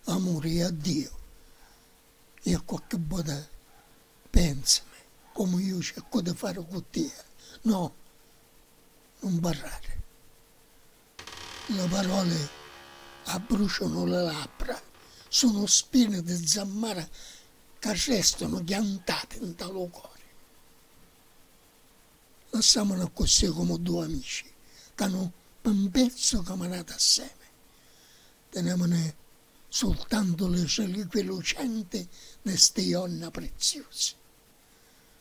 amuri a Diu e a qualche bota pensami comu iu cercu di fari cu tia no nun parrari li paroli abbrucianu li labbra sunu spini di zammara ca restanu chiantati nta lu cori. Lassàmunu accussì comu dui amici ca nu pi un pezzu caminati assemi. Tinèmuni sultantu li reliquie lucenti di sti jonna priziusi.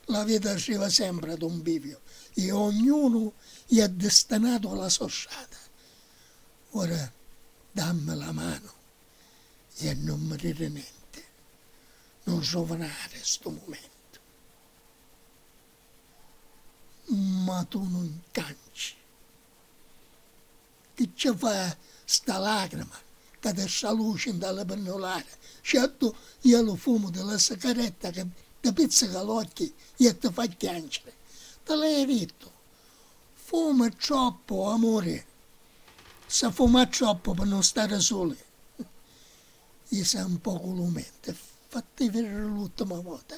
La vita arriva sempri ad un biviu e ognunu iè distinatu a la so strata. Ora dammi la manu e nun mi diri nenti. Nun ruvinari stu mumentu. ma tu nun canci. Chi ci fa sta lacrima ca ti straluci nta li pinnulari, certu iè lu fumu di la sicaretta ca ti pizzica l'occhi iè ti fa chianciri. Ti l'haiu dittu, fumi troppu amuri, si fuma troppu pi nun stari suli. Jisa un pocu lu menti, fatti vidiri l'ultima vota.